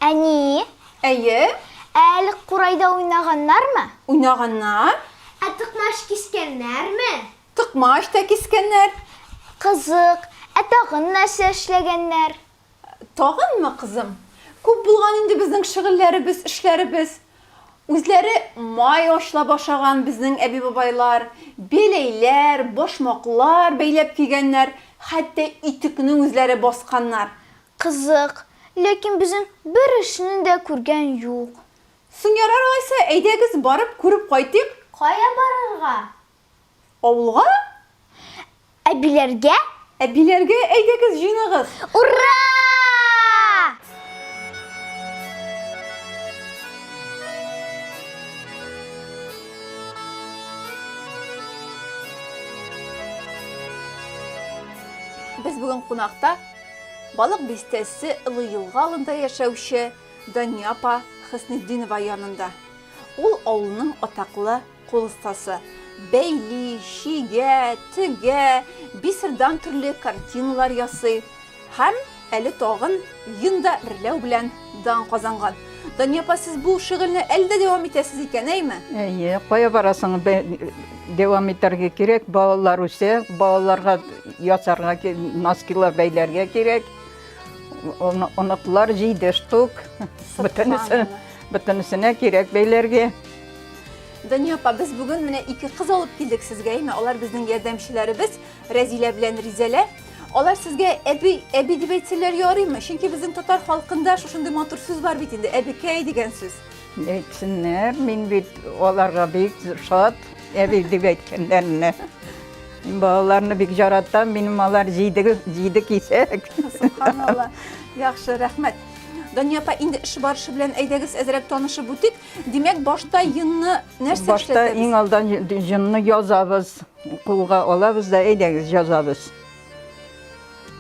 Әни, Әйе, әле курайда уйнаганнармы? уйнаганнар, Ә токмач кискәннәрме? токмач та кискәннәр. Кызык, ә тагын нәрсә эшләгәннәр? Тагынмы, кызым? Күп булган инде безнең шөгыльләребез, эшләребез. Үзләре май ачлап ашаган безнең әби-бабайлар, беләйләр, башмаклар бәйләп кигәннәр, хәтта итекне үзләре басканнар. Кызык, ләкин безнең бер эшне дә күргән юк. Соң ярар алайса, әйдәгез, барып күреп кайтыйк. Кая барырга? Авылга? Әбиләргә? Әбиләргә әйдәгез җыйнагыз! Ура! Без бүген кунакта Балык бистәсе Олы Елга алында яшәүче Дания апа Хөснетдинова янында. Ул авылның атаклы Кул остасы. Бәйли, чигә, тегә, бисердан төрле картиналар ясый һәм әле тагын йон да эрләү белән дан казанган. Дания апа, сез бу шөгыльне әле дә дәвам итәсез икән, әйме? Әйе, кая барасың, дәвам итәргә кирәк, балалар үсә, балаларга ясарга, носкилар бәйләргә кирәк. Оныклар җиде штук, бөтенесенә кирәк бәйләргә. Дания апа, без бүген менә ике кыз алып килдек сезгә, әйме? Алар безнең ярдәмчеләребез, Рәзилә белән Ризәлә. Алар сезгә әби, әби дип әйтсәләр ярыймы? Чөнки безнең татар халкында шушындый матур сүз бар бит инде, әбекәй дигән сүз. Әйтсеннәр, мин бит аларга бик шат, әби дип әйткәннәренә. Мин балаларны бик жаратам, минем алар җиде, җиде кисәк. Субханалла. Яхшы, рәхмәт. Дания апа, инде эш барышы белән әйдәгез әзрәк танышып үтик. Димәк, башта йынны нәрсә Башта иң алдан йынны язабыз, кулга алабыз да, әйдәгез, язабыз.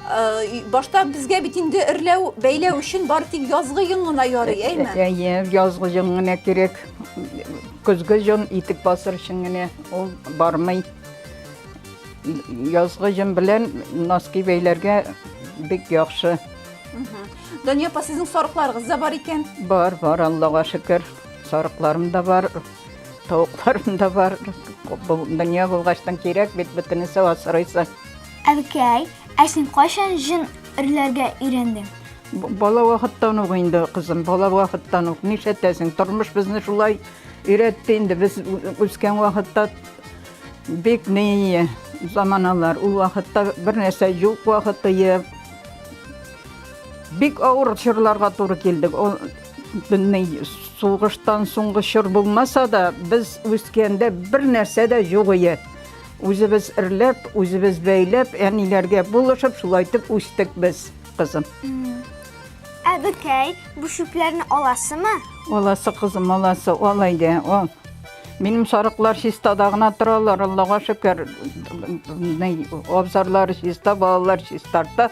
Э, башта безгә бит инде эрләү, бәйләү өчен бар тик язгы йын гына ярый, э, әйме? Э, әйе, язгы йын гына кирәк. Көзге йын итек басыр өчен генә ул бармый. Язгы йын белән носки бәйләргә бик яхшы. Дания апа, сезнең сарыкларыгыз да бар икән. Бар, бар, Аллага шөкер. Сарыкларым да бар, тавыкларым да бар. Бу дөнья булгачтан кирәк бит бөтенесе асрыйсы. Әбекәй, ә син кайчан җен өрләргә өйрәндең? Б- Бала вакыттан ук инде, кызым, бала вакыттан ук. Нишләтәсең? Тормыш безне шулай өйрәтте инде. Без ү- үскән вакытта бик ни заманалар. Ул вакытта бер нәрсә юк вакыты, Бик авыр чорларга туры килдек. Сугыштан соңгы чор булмаса да, без үскәндә бер нәрсә дә юк иде. Үзебез эрләп, үзебез бәйләп, әниләргә булышып, шулай итеп үстек без, кызым. Ә бекәй, бу чүпләрне аласымы? Аласы, кызым, аласы, ал әйдә, ал. Минем сарыклар чистада гына торалар, Аллага шөкер. Абзарлары чиста, балалар чистарта.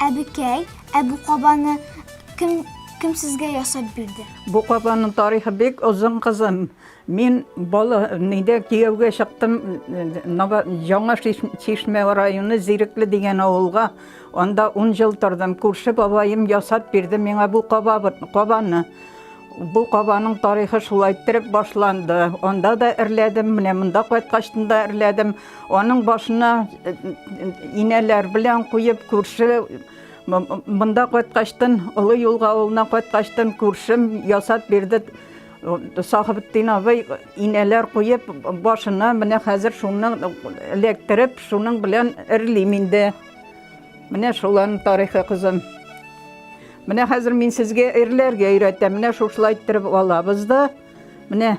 Әбекәй, ә бу кабаны кем кем сезгә ясап бирде? Бу кабанның тарихы бик озын кызым. Мин бала нидә кияүгә чыктым Яңа Чишмә районы Зирекле дигән авылга. Анда 10 ел тордым. Күрше бабаем ясап бирде миңа бу кабаны. Бу кабаның тарихы шулай иттереп башланды. Анда да эрләдем, менә монда кайткач та эрләдем. Аның башына инәләр белән куеп, күрше монда кайткачтын, Олы юлга авылына кайткачтын, күршем ясап бирде. Сахыбтдин абый инәләр куеп, башына менә хәзер шуны эләктереп, шуның белән эрлим инде. Менә шуларның тарихы кызым. Менә хәзер мин сезгә эрләргә өйрәтәм. Менә шушылай иттереп алабыз да. Менә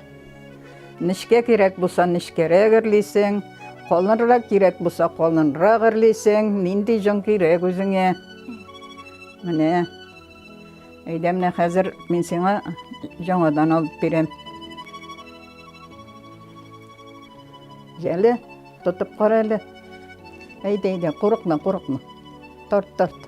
Нечкә кирәк булса, нечкәрәк эрлисең, калынрак кирәк булса, калынрак эрлисең, нинди җон кирәк үзеңә. Менә. Әйдә менә хәзер мин сиңа җоңадан алып бирәм. Җәле, тотып кара әле. Әйдә, әйдә, курыкма, курыкма. Тарт, тарт.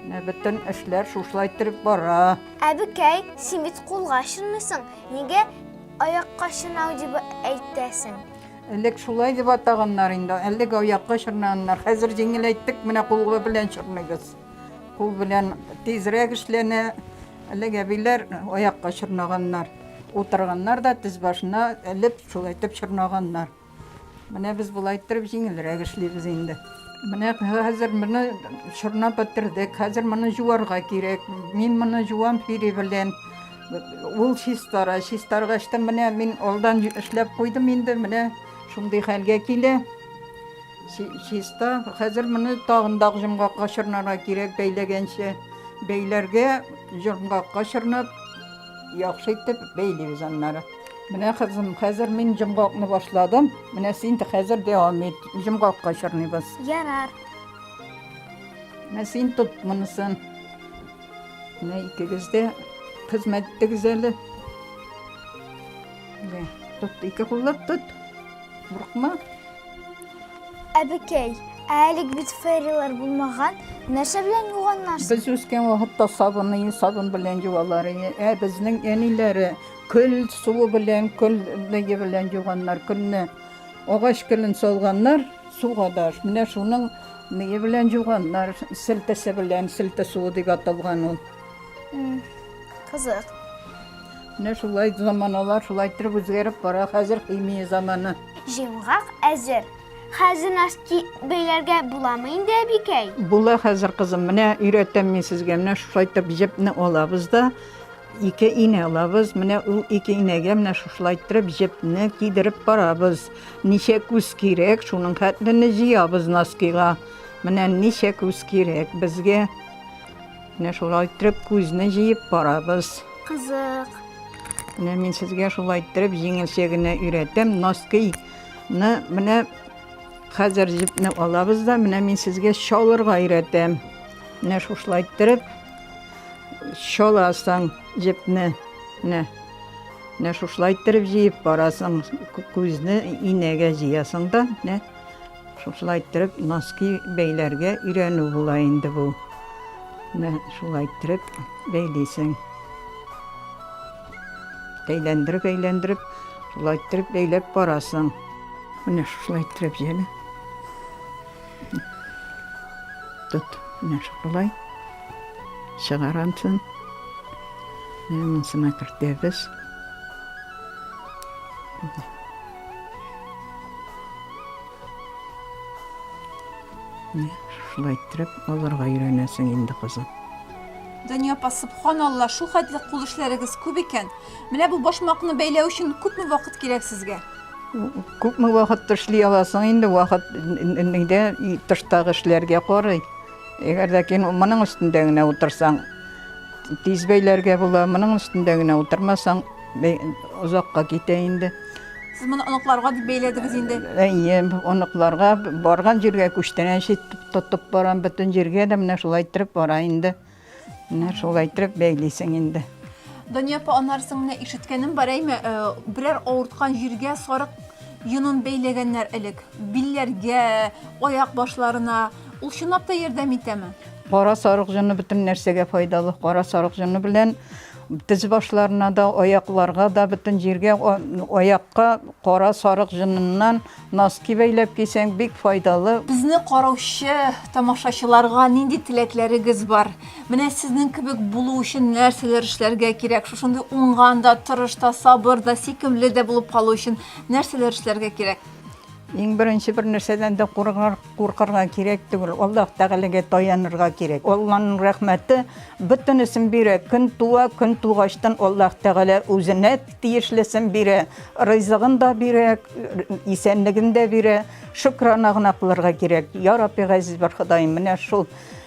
Менә бөтен эшләр шушылай торып бара. Әбекәй, син бит кулга чынмыйсың. Нигә аякка чынау дип әйтәсең? Элек шулай дип атаганнар инде. Элек аякка чырнаннар. Хәзер җиңеләйттек, менә кулга белән чырныйбыз. Кул белән тизрәк эшләнә. Элек әбиләр аякка чырнаганнар. Утырганнар да тез башына элеп шулай итеп чырнаганнар. Менә без болай иттереп җиңелрәк эшлибез инде. Менә хәзер моны чорнап бетердек. Хәзер моны җуарга кирәк. Мин моны җуам фири белән. Ул чистара. Чистаргач та менә мин алдан эшләп куйдым инде. Менә шундый хәлгә килә. Чиста. Хәзер моны тагын да җомгакка чорнарга кирәк бәйләгәнче. Бәйләргә җомгакка чорнап Яхшы итеп бәйлибез аннары. Менә кызым, хәзер мин җомгакны башладым. Менә син хәзер дәвам ит. Җомгакка чорныйбыз. Ярар. Менә син тот монысын. Менә икегез дә хезмәт итегез әле. Менә тот, ике куллап тот. Курыкма. Әбекәй, ә әлег бит ферилар булмаган, нәрсә белән юганнарсың? Без үскән вакытта сабыны, сабын белән юалар иде. Ә безнең әниләре көл суы белән, көл беге белән юганнар көлне. Агач көлен салганнар суга да. Менә шуның беге белән юганнар, селтәсе белән, селтә суы дип аталган ул. Кызык. Менә шулай заманалар шулай иттереп үзгәреп бара. Хәзер химия заманы. Җыемгак әзер. Хәзер носки бәйләргә буламы инде, әбикәй? Була хәзер, кызым. Менә өйрәтәм мин сезгә. Менә шулай итеп җепне алабыз да, ике инә алабыз. Менә ул ике инәгә менә шулай иттереп җепне кидереп барабыз. Ничә күз кирәк, шуның хәтле җыябыз носкига. Менә ничә күз кирәк безгә. Менә шулай иттереп күзне җыеп барабыз. Кызык. Менә мин сезгә шулай иттереп җиңелчә генә өйрәтәм. Носкыйны менә хәзер җепне алабыз да, менә мин сезгә чалырга өйрәтәм. Менә шушылай иттереп чаласың җепне. Менә. Менә шушылай иттереп җыеп барасың. Күзне инәгә җыясың да, менә Шулай иттереп, носки бәйләргә өйрәнү була инде бу. Менә шулай иттереп бәйлисең. Әйләндереп-әйләндереп, шулай иттереп бәйләп барасың. Менә шулай иттереп җәле. Тот, менә шулай. Чыгарансың. Менә монсына кертәбез. Шулай иттереп, аларга өйрәнәсең инде, кызым. Дания апа, субханалла, шул хәтле кул эшләрегез күп икән. Менә бу башмакны бәйләү өчен күпме вакыт кирәк сезгә? Күпме вакыт эшли аласың инде, вакыт нидә тыштагы эшләргә карый. Әгәр дә кин моның өстендә генә утырсаң, тиз бәйләргә була, моның өстендә генә утырмасаң, Мин озакка китә инде. Сез моны оныкларга дип бәйләдегез инде. Әйе, оныкларга барган җиргә күчтәнәч итеп тотып барам, бөтен җиргә дә менә шулай иттереп бара инде. Менә шулай иттереп бәйлисең инде. Дания апа, аннары соң менә ишеткәнем бар, әйме, э, берәр авырткан җиргә сарык йонын бәйләгәннәр элек. Билләргә, аяк башларына. Ул чынлап та ярдәм итәме? Кара сарык җоны бөтен нәрсәгә файдалы. Кара сарык җоны белән Тез башларына да, аякларга да, бөтен җиргә, аякка кара сарык җыныннан носки бәйләп кисәң, бик файдалы. Безне караучы тамашачыларга нинди теләкләрегез бар? Менә сезнең кебек булу өчен нәрсәләр эшләргә кирәк? Шушындый уңган да, тырыш та, сабыр да, сөйкемле дә булып калу өчен нәрсәләр эшләргә кирәк? Иң беренче бер нәрсәдән дә куркырга кирәк түгел, Аллаһ Тәгаләгә таянырга кирәк. Алланың рәхмәте бөтенесен бирә. Көн туа, көн тугачтан Аллаһ Тәгалә үзенә тиешлесен бирә, ризыгын да бирә, исәнлеген дә бирә. Шөкрана гына кылырга кирәк. Я Рабби, газиз бер Ходаем, менә шул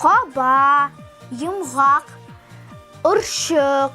Каба, йомгак, орчык.